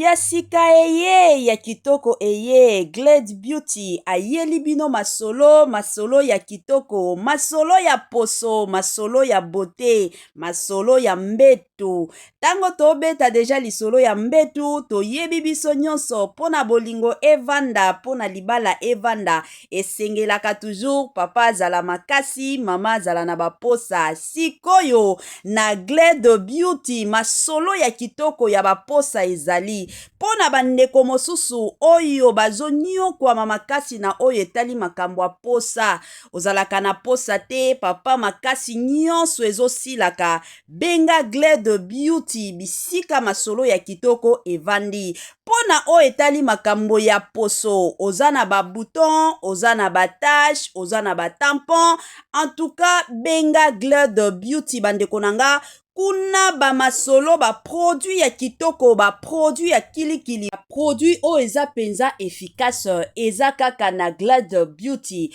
ya sika eye ya kitoko eye glade beauty ayeli bino masolo masolo ya kitoko masolo ya poso masolo ya bote masolo ya mbeto Tango tobeta deja lisolo ya mbetu toyebi biso nyonso mpo na bolingo evanda mpo na libala evanda esengelaka toujours papa azala makasi mama azala na baposa sikoyo na gle de beauty masolo ya kitoko ya baposa ezali mpo na bandeko mosusu oyo bazonyokwama makasi na oyo etali makambo ya posa ozalaka na posa te papa makasi nyonso ezosilaka Benga Gle de Beauty bisika masolo ya kitoko evandi. Mpo na oyo etali makambo ya poso, oza na ba boutons, oza na ba taches, oza na ba tampons, en tout cas benga Gle de Beauty bandeko na nga, kuna ba masolo, ba produits ya kitoko, ba produits ya kilikili, ba produits oyo eza penza efficace, eza kaka na Gle de Beauty.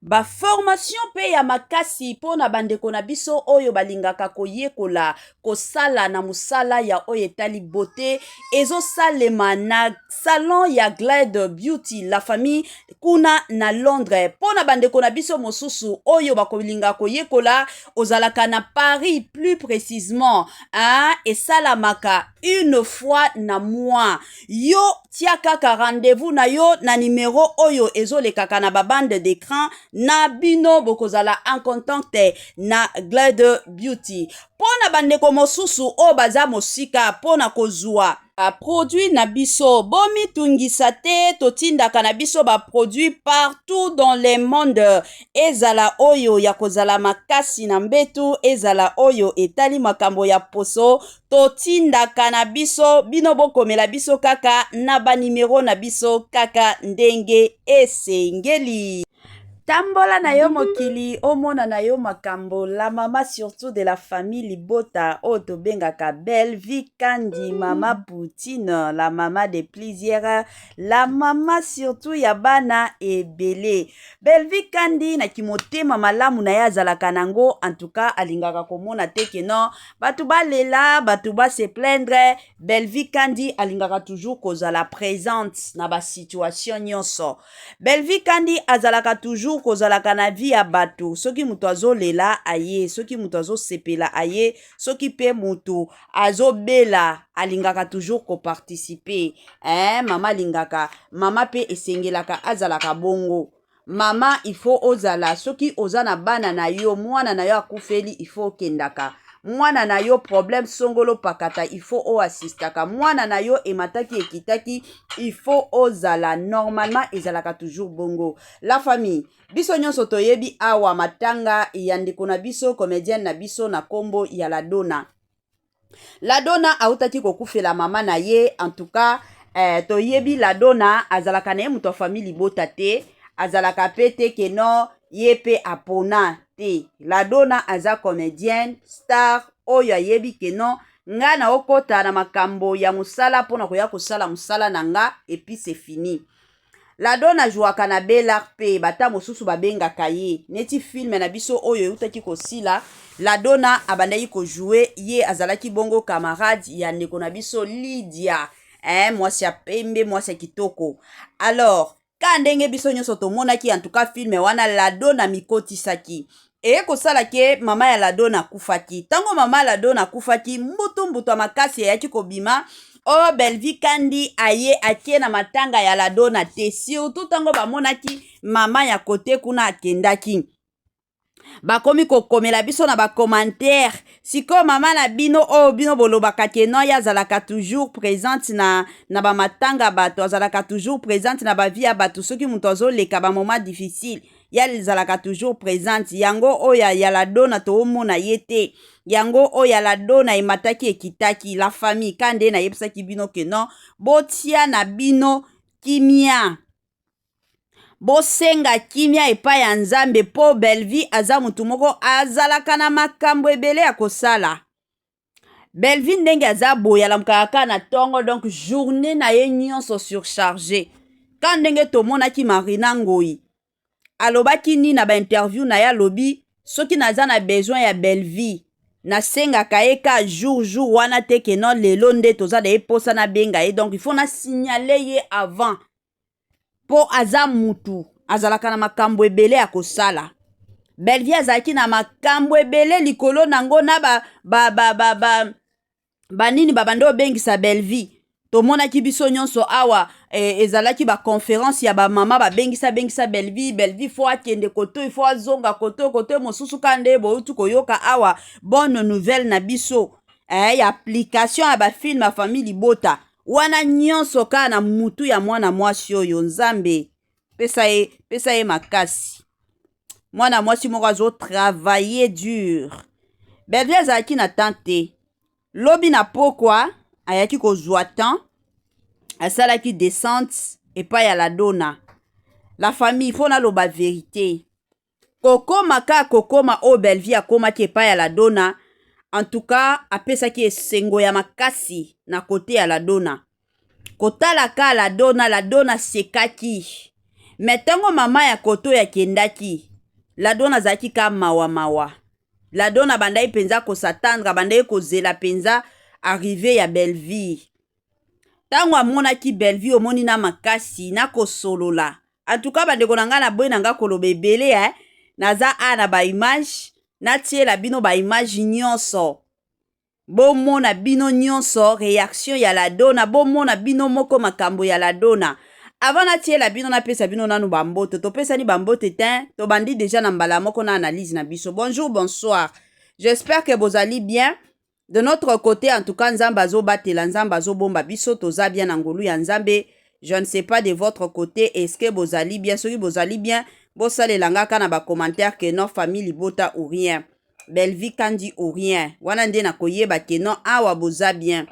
baformasio mpe ya makasi mpo na bandeko na biso oyo balingaka koyekola kosala na mosala ya oyo etali bote ezosalema na salon ya glade beauty la famille kuna na londres mpo na bandeko na biso mosusu oyo bakolinga koyekola ozalaka na paris plus précisement hein, esalamaka une fois na mois Yo tia kaka rendez-vous na yo na numero oyo ezolekaka na ba bande d'écran na bino bokozala en contact na Glade Beauty. Mpo na bandeko mosusu oyo baza mosika mpo na kozwa baproduit na biso bomitungisa te totindaka na biso baproduit partout dans le monde ezala oyo ya kozala makasi na mbetu ezala oyo etali makambo ya poso Totindaka na biso, bino bokomela biso kaka na ba numero na biso kaka ndenge esengeli. Tambola na yo mokili omona na yo makambo la mama surtout de la famille libota oyo tobengaka belle vie kandi mama poutine la mama de plusieurs la mama surtout ya bana ebele belle vie kandi na kimotema malamu na ye azalaka nango en tout cas alingaka komona te ke non bato balela bato base plaindre bellevie kandi alingaka toujours kozala présente na basituation nyonso bellevie kandi azalaka toujours kozalaka na vie ya bato soki moto azolela aye soki moto azosepela aye soki mpe moto azobela alingaka toujours koparticipe eh, mama alingaka mama mpe esengelaka azalaka bongo Mama il faut ozala soki oza na bana na yo mwana na yo akufeli il faut okendaka mwana na yo problème songolo pakata il faut o assistaka mwana na yo emataki ekitaki il faut ozala normalement ezalaka toujours bongo la famille biso nyonso toyebi awa matanga ya ndeko na biso comedienne na biso na kombo ya la dona ladona autaki kokufela mama na ye en tout cas eh, toyebi ladona azalaka na ye moto ya famille libota te azalaka pe te ke no ye pe apona te ladona aza comedienne star oyo ayebi ke no nga na okota na makambo ya mosala mpo na koya kosala mosala na nga epuis se fini Ladon ajouaka na Bel'art mpe bata mosusu babengaka ye neti film na biso oyo eutaki kosila Ladona abandaki kojoue ye azalaki bongo camarade ya ndeko na biso Lydia eh, mwasi ya pembe mwasi ya kitoko alors ka ndenge biso nyonso tomonaki en tout cas film wana Ladona mikotisaki Eye kosala ke mama ya Ladona akufaki. Tango mama ya Ladona akufaki, mbutu mbutu ya makasi eyaki kobima Oh Bellevue Kandi aye akie na matanga ya Ladona te surtout tango bamonaki mama ya kote kuna akendaki bakomi kokomela biso na bacommentaire sikoyo mama na bino oyo oh, bino bolobaka ke non ye azalaka toujours présente na, na bamatanga bato azalaka toujours présente na bavie ya bato soki moto azoleka bamoment difficile ya lizalaka toujours presente yango oyo ya yaladona toomona ye te yango oyo yaladona emataki ekitaki la famille ka nde nayebisaki bino ke non botia na bino kimia bosenga kimia epai ya nzambe mpo bellevie aza motu moko azalaka na makambo ebele ya kosala Bellevue ndenge aza boye alamukaka kaka na ntongo donc journée na ye nyonso surcharge ka ndenge tomonaki marina ngoi alobaki nini na bainterview na ye alobi soki naza na besoin ya bellevie nasengaka ye ka jour jour wana te ke non lelo nde toza na ye mposa nabenga ye donc il faut nasignale ye avant mpo aza mutu azalaka na makambo ebele ya kosala bellevie azalaki na makambo ebele likolo na yango na ba, ba, ba, ba, ba, banini babanda obengisa bellevie tomonaki biso nyonso awa eh, ezalaki baconférence ya bamama babengisa bengisa belvi belvi fo akende kotoi fo azonga kotoi kotoi mosusu ka nde bouti koyoka awa bonne nouvelle na biso eh, ya application ya bafilme ya famille libota wana nyonso kaka na mutu ya mwana mwasi oyo nzambe pesa ye pesa ye makasi mwana mwasi moko azo travailler dur bellevue azalaki na temps te lobi na pokwa ayaki kozwa temps asalaki descente epai ya ladona la famille mpo naloba verite kokoma kaka kokoma oyo Bellevue akomaki epai ya Ladona en tout cas apesaki esengo ya makasi na kote ya Ladona kotala ka Ladona Ladona sekaki me ntango mama ya koto yakendaki Ladona azalaki ka mawa mawa Ladona abandaki mpenza kosatandra abandaki kozela mpenza arrive ya Bellevue ntango amonaki Bellevue omoni na makasi na kosolola antuka bandeko na ngai na boyi na ngai koloba ebele eh? naza a na baimage natiela bino baimage nyonso bomona bino nyonso reaction ya ladona bomona bino moko makambo ya ladona avant natiela bino napesa bino nanu bambote topesani bambote te tobandi deja na mbala moko na analyse na biso bonjour bonsoir j'espère que bozali bien de notre côté en tout cas nzambe azobatela nzambe azobomba biso toza bien na ngolu ya nzambe je ne sais pas de votre côté est ce que bozali bien soki bozali bien bosalela nga ka na bacommentaire que non famille libota ou rien bellevie kandi ou rien wana nde nakoyeba que non awa boza bien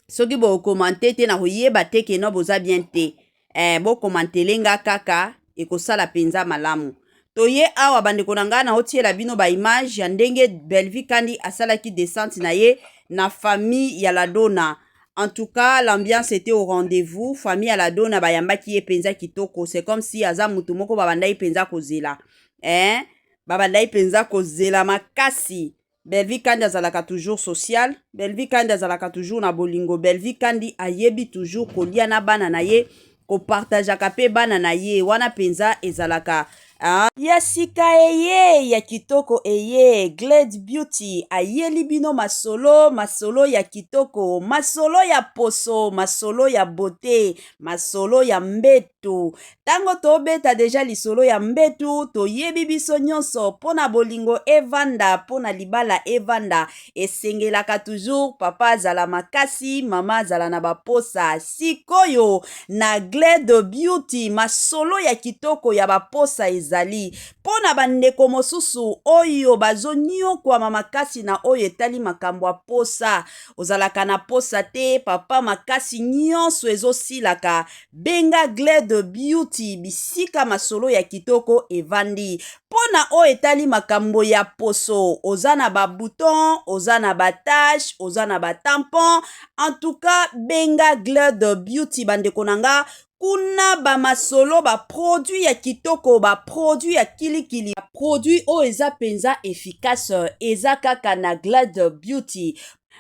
soki bo commente te na koyeba te ke no boza bien te eh, bo commentele nga kaka ekosala penza malamu toye awa bandeko na ngai naotiela bino ba image ya ndenge Bellevue Kandi asalaki descente na ye na famille ya Ladona en tout cas l'ambiance était au rendez-vous famille ya Ladona bayambaki ye penza kitoko c'est comme si aza mutu moko babandaki penza kozela eh babandaki penza kozela makasi Bellevue Kandi azalaka toujours social. Bellevue Kandi azalaka toujours na bolingo. Bellevue Kandi ayebi toujours kolia na bana na ye, kopartageaka mpe bana na ye. Wana mpenza ezalaka Ah. ya sika eye ya kitoko eye glade beauty ayeli bino masolo masolo ya kitoko masolo ya poso masolo ya bote masolo ya mbete to ntango tobeta deja lisolo ya mbetu toyebi biso nyonso mpo na bolingo evanda mpo na libala evanda esengelaka toujours papa azala makasi mama azala na baposa sikoyo na gle de beauty masolo ya kitoko ya baposa ezali mpo na bandeko mosusu oyo bazonyokwama makasi na oyo etali makambo ya posa ozalaka na posa te papa makasi nyonso ezosilaka Benga Gle de Beauty bisika masolo ya kitoko evandi. Mpo na oyo etali makambo ya poso, oza na ba boutons, oza na ba taches, oza na ba tampons, en tout cas benga Gle de Beauty bandeko na nga, kuna ba masolo, ba produits ya kitoko, ba produits ya kili kili, ba produits oyo eza penza efficace, eza kaka na Gle de Beauty.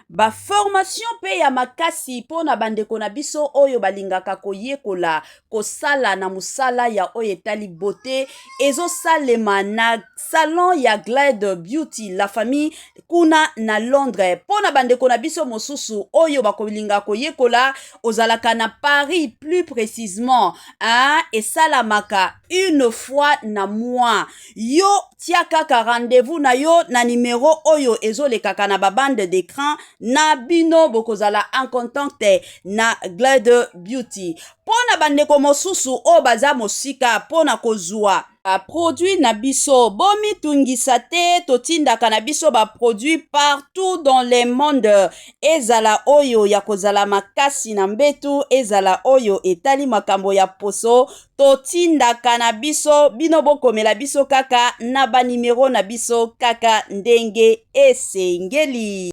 baformasio mpe ya makasi mpo na bandeko na biso oyo balingaka koyekola kosala na mosala ya oyo etali bote ezosalema na salon ya glad beauty la famille kuna na londres mpo na bandeko na biso mosusu oyo bakolinga koyekola ozalaka na paris plus précisement hein, esalamaka une fois na mois Yo tia kaka rendez-vous na yo na numero oyo ezolekaka na ba bande d'écran na bino bokozala en contact na Glide Beauty. Mpo na bandeko mosusu oyo baza mosika mpo na kozwa baproduit na biso bomitungisa te totindaka na biso baproduit partout dans le monde ezala oyo ya kozala makasi na mbetu ezala oyo etali makambo ya poso totindaka na biso bino bokomela biso kaka na banimero na biso kaka ndenge esengeli.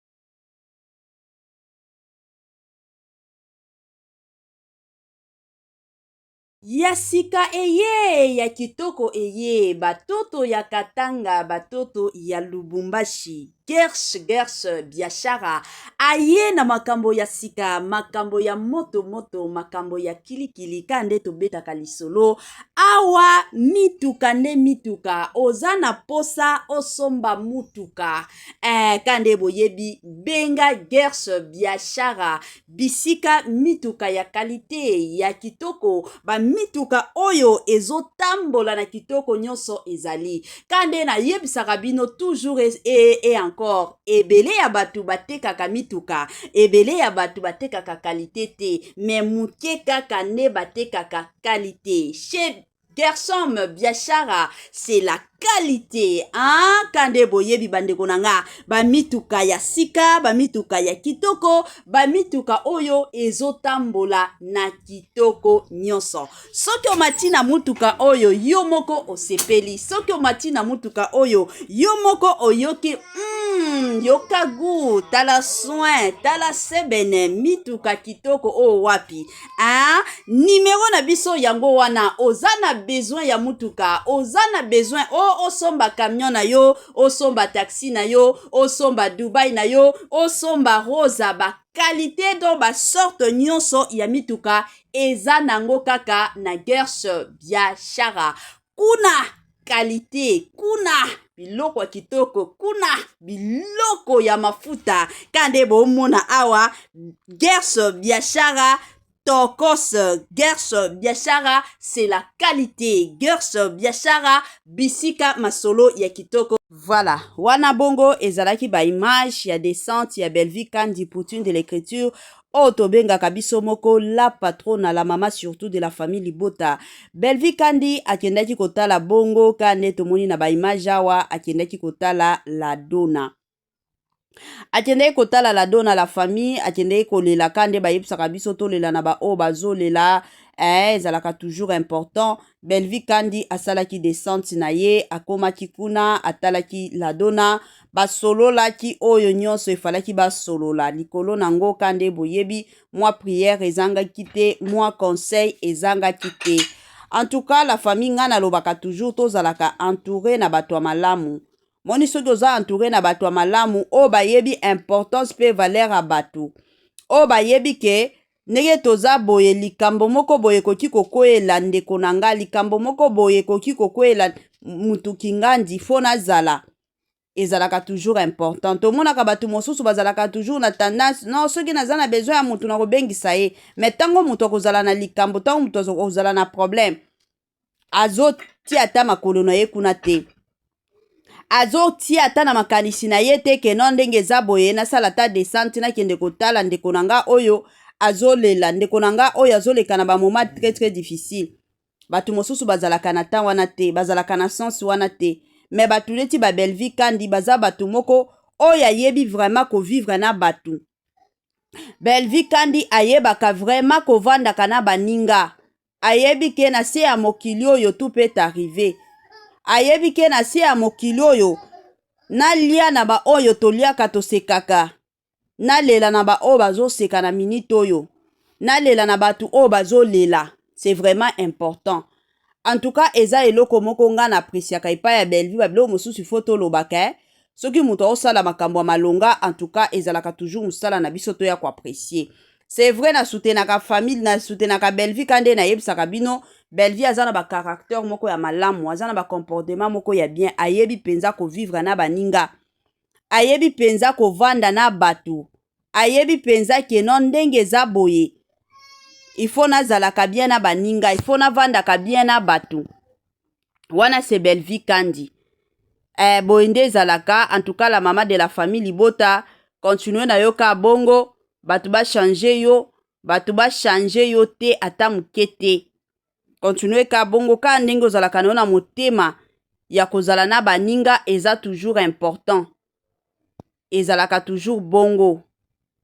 Ya sika eye ya kitoko eye batoto ya Katanga batoto ya Lubumbashi Gersh Gersh Biashara aye na makambo ya sika makambo ya moto moto makambo ya kilikili ka nde tobetaka lisolo awa mituka nde mituka oza na posa osomba mutuka Eh, kande boyebi benga gers biashara bisika mituka ya kalite ya kitoko bamituka oyo ezotambola na kitoko nyonso ezali kande nayebisaka bino toujours e, e, e encore ebele ya bato batekaka mituka ebele ya bato batekaka kalite te me moke kaka nde batekaka kalite chez Gershom Biashara c'est la qualité hein? kande boyebi bandeko na nga bamituka ya sika bamituka ya kitoko bamituka oyo ezotambola na kitoko nyonso soki omati na motuka oyo yo moko osepeli soki omati na motuka oyo yo moko oyoki mm, yoka gu tala soin tala sebene mituka kitoko oyo wapi Hein? Numero na biso yango wana oza na besoin ya mutuka oza na besoin o oh, osomba camion na yo osomba taxi na yo osomba Dubai na yo osomba rosa ba qualité do ba sorte nyonso ya mituka eza nango kaka na guerre bia shara kuna kalite kuna biloko ya kitoko kuna biloko ya mafuta ka nde bomona awa gers biashara tokos gers biashara c'est la qualité gers biashara bisika masolo ya kitoko Voilà, wana bongo ezalaki ba image ya descente ya Bellevue Kandi Poutine de l'écriture oyo tobengaka biso moko la patrona la mama surtout de la famille libota belvi kandi akendaki kotala bongo ka nde tomoni na baimage awa akendaki kotala la dona akendeki kotala la dona la famille akendeki kolela ka nde bayebisaka biso tolela na baoyo bazolela eh, ezalaka toujours important Bellevue Kandi asalaki descente na ye, akomaki kuna, atalaki Ladona, basololaki oyo nyonso efalaki basolola likolo na ngo. Kande boyebi, mwa prière ezangaki te, mwa conseil ezangaki te. En tout cas, la famille nga nalobaka toujours tozalaka entouré na bato ya malamu. Moni soki oza entouré na bato ya malamu oyo bayebi importance pe valeur ya bato, oyo bayebi ke Ndenge toza boye, likambo moko boye ekoki kokweyela ndeko na nga, likambo moko boye ekoki kokweyela mutu kingandi, faut nazala ezalaka toujours important. Tomonaka bato mosusu bazalaka toujours na tendance non, soki naza na besoin ya moto nakobengisa ye, mais ntango moto akozala na likambo, ntango moto akozala na problème, azotia ata makolo na ye kuna te azotia ata na makanisi na ye te ke no ndenge eza boye nasala ata desante nakende kotala ndeko na nga oyo azolela ndeko na nga oyo azoleka na bamoma très très difficile bato mosusu bazalaka na temps wana te bazalaka na sens wana te me bato neti babelvi kandi baza bato moko oyo ayebi vraiment kovivre na bato belvi kandi ayebaka vraiment kovandaka na baninga ayebi ke na se ya mokili oyo tout peut arriver ayebi ke na se ya mokili oyo nalia na baoyo toliaka tosekaka nalela na baoyo bazoseka na minite oyo nalela na bato oyo bazolela c'est vraiment important en tout cas eza eloko moko ngai na apresiaka epai ya bellevue babiloko mosusu ifo tolobaka eh? soki moto aosala makambo ya malonga en tout cas ezalaka toujours mosala na biso toya koapresie c'est vrai na soutenaka famille na soutenaka Bellevue ka nde nayebisaka bino Bellevue aza na ba caractère moko ya malamu aza na ba comportement moko ya bien ayebi mpenza kovivre na baninga ayebi mpenza kovanda na bato ayebi mpenza keno ndenge eza boye il faut nazalaka bien na baninga il faut navandaka bien na bato wana c'est Bellevue Kandi eh, boye nde ezalaka en tout cas la mama de la famille libota continue na yo ka bongo bato bachange yo bato bachange yo te ata moke te continue ka bongo kaka ndenge ozalaka na yo na motema ya kozala na baninga eza toujours important ezalaka toujours bongo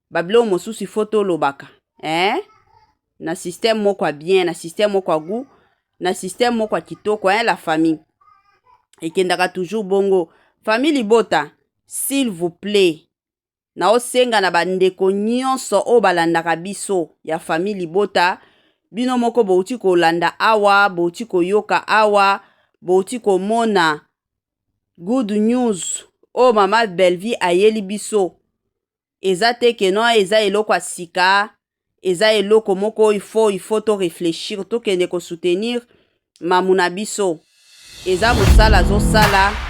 babiloko mosusu ifo tolobaka eh? na système moko ya bien na système moko ya gout na système moko ya kitoko eh, la famille ekendaka toujours bongo famille libota s'il vous plaît naosenga na bandeko nyonso oyo balandaka biso ya famille libota bino moko bouti kolanda awa bouti koyoka awa bouti komona Good news oyo mama Bellevue ayeli biso eza te que non eza eloko ya sika, eza eloko moko oyo il faut il faut to réfléchir, tokende ko soutenir mamu na biso. Eza mosala azosala.